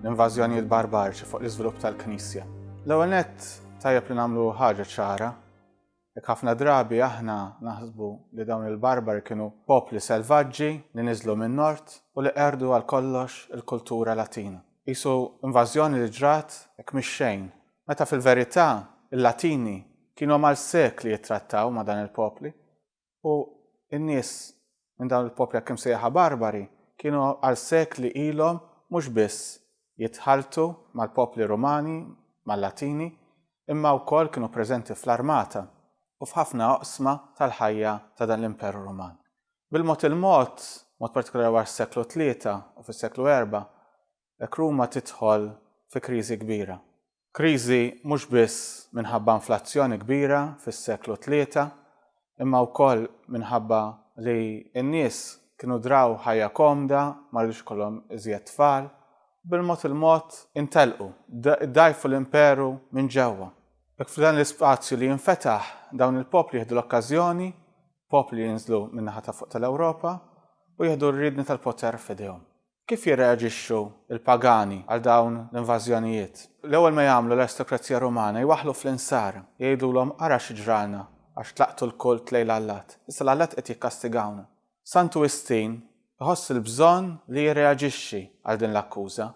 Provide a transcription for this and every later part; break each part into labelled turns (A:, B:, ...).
A: l-invażjonijiet barbariċi fuq l-iżvilupp tal-Knisja. L-ewwel nett tajjeb li nagħmlu ħaġa ċara Jekk ħafna drabi aħna naħsbu li dawn il-barbari kienu popli selvaġġi li niżlu min-nord u li qerdu għal kollox il-kultura latina. Isu invażjoni li ġrat hekk mix-xejn, meta fil-verità il-Latini kienu mal sekli jittrattaw ma' dan il-popli u n-nies minn dawn il-popli hekk imsejjaħa barbari kienu għal sekli ilhom mhux biss jitħalltu mal-popli Rumani, mal-Latini, imma wkoll kienu preżenti fl-armata u f'ħafna oqsma tal-ħajja ta' dan l-Imperu Ruman. Bil-mod il-mod, b'mod partikolari wara s-seklu tlieta u fis-seklu erbgħa, hekk Ruma tidħol fi kriżi kbira. Kriżi mhux biss minħabba inflazzjoni kbira fis-seklu tlieta, imma wkoll minħabba li n-nies kienu draw ħajja komda, ma ridux ikollhom iżjed tfal, u bil-mod il-mod intelqu, iddgħajfu l-imperu minn ġewwa. Hekk f'dan l-ispazju li jinfetaħ, dawn il-popli jieħdu l-okkażjoni, popli li jinżlu min-naħa ta' fuq tal-Ewropa, u jieħdu r-riedni tal-poter f'idejhom. Kif jirreaġixxu l-pagani għal dawn l-invażjonijiet? L-ewwel ma jagħmlu l-aristokrazija Rumana jwaħħlu fl-insar, jgħidulhom ara xi ġralna għax tlaqtu l-kult lejn l-allat. Issa l-allat qed jikkastigawna. Santu Wistin iħoss il-bżonn li jirreaġixxi għal din l-akkuża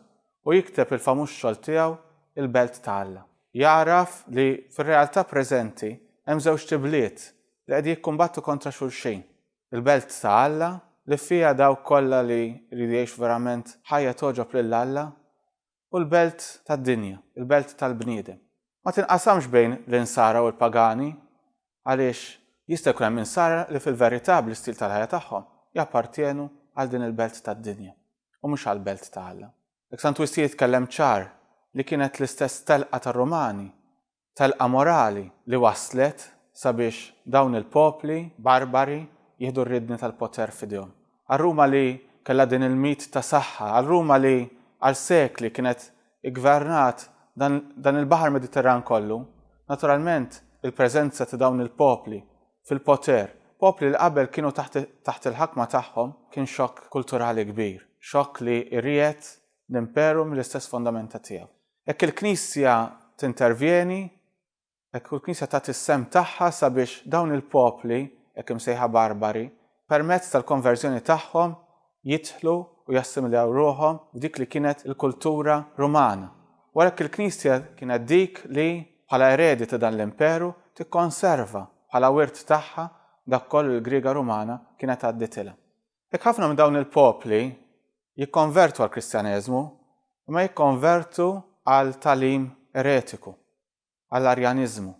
A: u jikteb il-famuż xogħol tiegħu Il-Belt ta' Alla. Jagħraf li fir-realtà preżenti hemm żewġt ibliet li qegħdin jikkumbattu kontra xulxin. Il-belt ta' Alla, li fiha dawk kollha li jridu jgħixu verament ħajja togħġob lil Alla, u l-belt tad-dinja, il-belt tal-bniedem. Ma tinqasamx bejn l-insara u l-pagani, għaliex jista' jkun hemm insara li fil-verità bl-istil tal-ħajja tagħhom jappartjenu għal din il-belt tad-dinja u mhux għall-belt ta' Alla. Hekk San Twistie jitkellem ċar li kienet l-istess telqa tar-Rumani telqa morali li wasslet sabiex dawn il-popli barbari jieħdu r-riedni tal-poter f'idejhom. Għal Ruma li kellha din il-mit ta' saħħa, għal Ruma li għal sekli kienet iggvernat dan dan il-baħar Mediterran kollu, naturalment il-preżenza ta' dawn il-popli fil-poter, popli li qabel kienu taħt taħt il-ħakma tagħhom, kien xokk kulturali kbir, xokk li riegħed l-imperu mill-istess fondamenta tiegħu. Jekk il-Knisja tintervjeni, jekk il-Knisja tagħti s-sehem tagħha sabiex dawn il-popli, hekk imsejħa barbari, permezz tal-konverżjoni tagħhom jidħlu u jassimiljaw ruħhom f'dik li kienet il-kultura Rumana. U għalhekk il-Knisja kienet dik li, bħala eredi ta' dan l-imperu, tikkonserva bħala wirt tagħha dak kollu li l-Griega Rumana kienet għadditilha. Hekk ħafna minn dawn il-popli jikkonvertu għall-Kristjaneżmu, imma jikkonvertu għal tagħlim eretiku, għall-Arjaniżmu,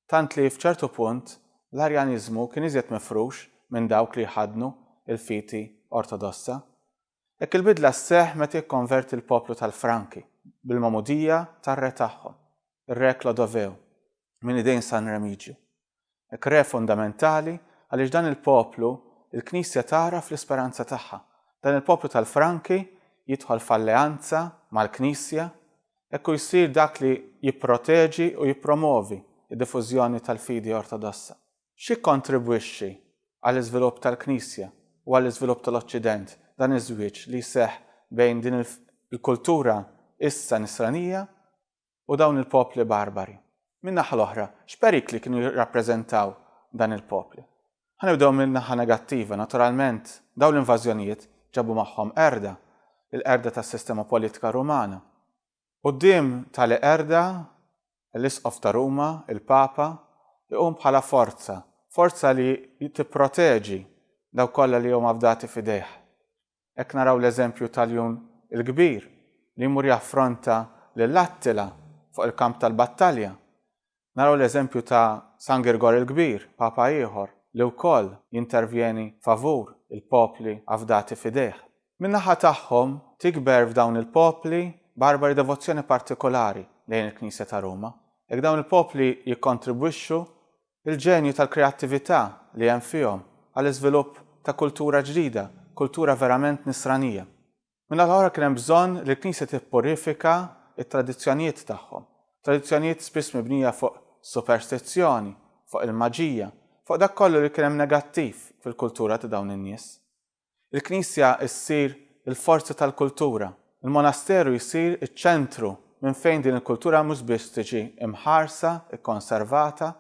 A: tant li f'ċertu punt l-Arjaniżmu kien iżjed mifrux minn dawk li jħaddnu l-fiti Ortodossa. Hekk il-bidla sseħħ meta jikkonverti l-poplu tal-Franki bil-magħmudija tar-re tagħhom, ir-re Klodoveu, minn idejn San Remigju. Hekk re fundamentali għaliex dan il-poplu l-Knisja tagħraf l-isperanza tagħha. Dan il-poplu tal-Franki jidħol f'alleanza mal-Knisja, hekk hu jsir dak li jipproteġi u jippromovi d-diffużjoni tal-fidi Ortodossa. X'jikkontribwixxi għall-iżvilupp tal-Knisja u għall-iżvilupp tal-Oċċident dan iż-żwieġ li jseħħ bejn din il-kultura issa Nisranija u dawn il-popli barbari. Min-naħa l-oħra, x'perikli kienu jirrappreżentaw dan il-popli? Ħa nibdew min-naħa negattiva. Naturalment, dawn l-invażjonijiet ġabu magħhom qerda, il-qerda tas-sistema politika Rumana. Quddiem tali qerda, l-Isqof ta' Ruma, il-Papa, iqum bħala forza, forza li tipproteġi dawk kollha li huma fdati f'idejh. Hekk naraw l-eżempju tal-Jun il-Kbir li jmur jaffronta lil Attila fuq il-kamp tal-battalja. Naraw l-eżempju ta' San Girgor il-Kbir, Papa ieħor, li wkoll jintervjeni favur il-popli afdati f'idejh. Min-naħa tagħhom, tikber f'dawn il-popli barbari devozzjoni partikolari lejn il-Knisja ta' Ruma. Jekk dawn il-popli jikkontribwixxu Il-ġenju tal-kreattività li hemm fihom għall-iżvilupp ta' kultura ġdida, kultura verament Nisranija. Min-naħa l-oħra kien hemm bżonn li l-Knisja tippurifika t-tradizzjonijiet tagħhom, tradizzjonijiet spiss mibnija fuq superstizzjoni, fuq il-maġija, fuq dak kollu li kien hemm negattiv fil-kultura ta' dawn in-nies. Il-knisja ssir il-forza tal-kultura. Il-monasteru jsir iċ-ċentru minn fejn din il-kultura mhux biss tiġi mħarsa, ikkonservata,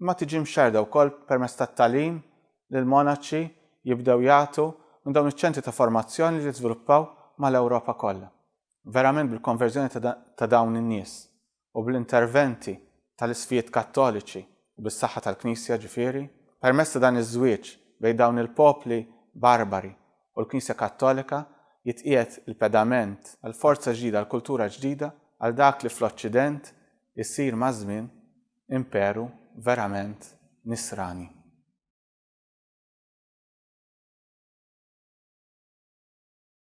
A: imma tiġi mxerrda wkoll permezz tat-tagħlim li l-monaċi jibdew jagħtu minn dawn iċ-ċentri ta' formazzjoni li żviluppaw mal-Ewropa kollha. verament bil-konverżjoni ta' dawn in-nies u bl-interventi tal-isfijiet Kattoliċi u bis-saħħa tal-Knisja ġifieri, permezz ta' dan iż-żwieġ bejn dawn il-popli barbari u l-Knisja Kattolika jitqiegħed il-pedament għal forza ġdida, għal kultura ġdida, għal dak li fl-Oċċident isir maż-żmien imperu verament nisrani.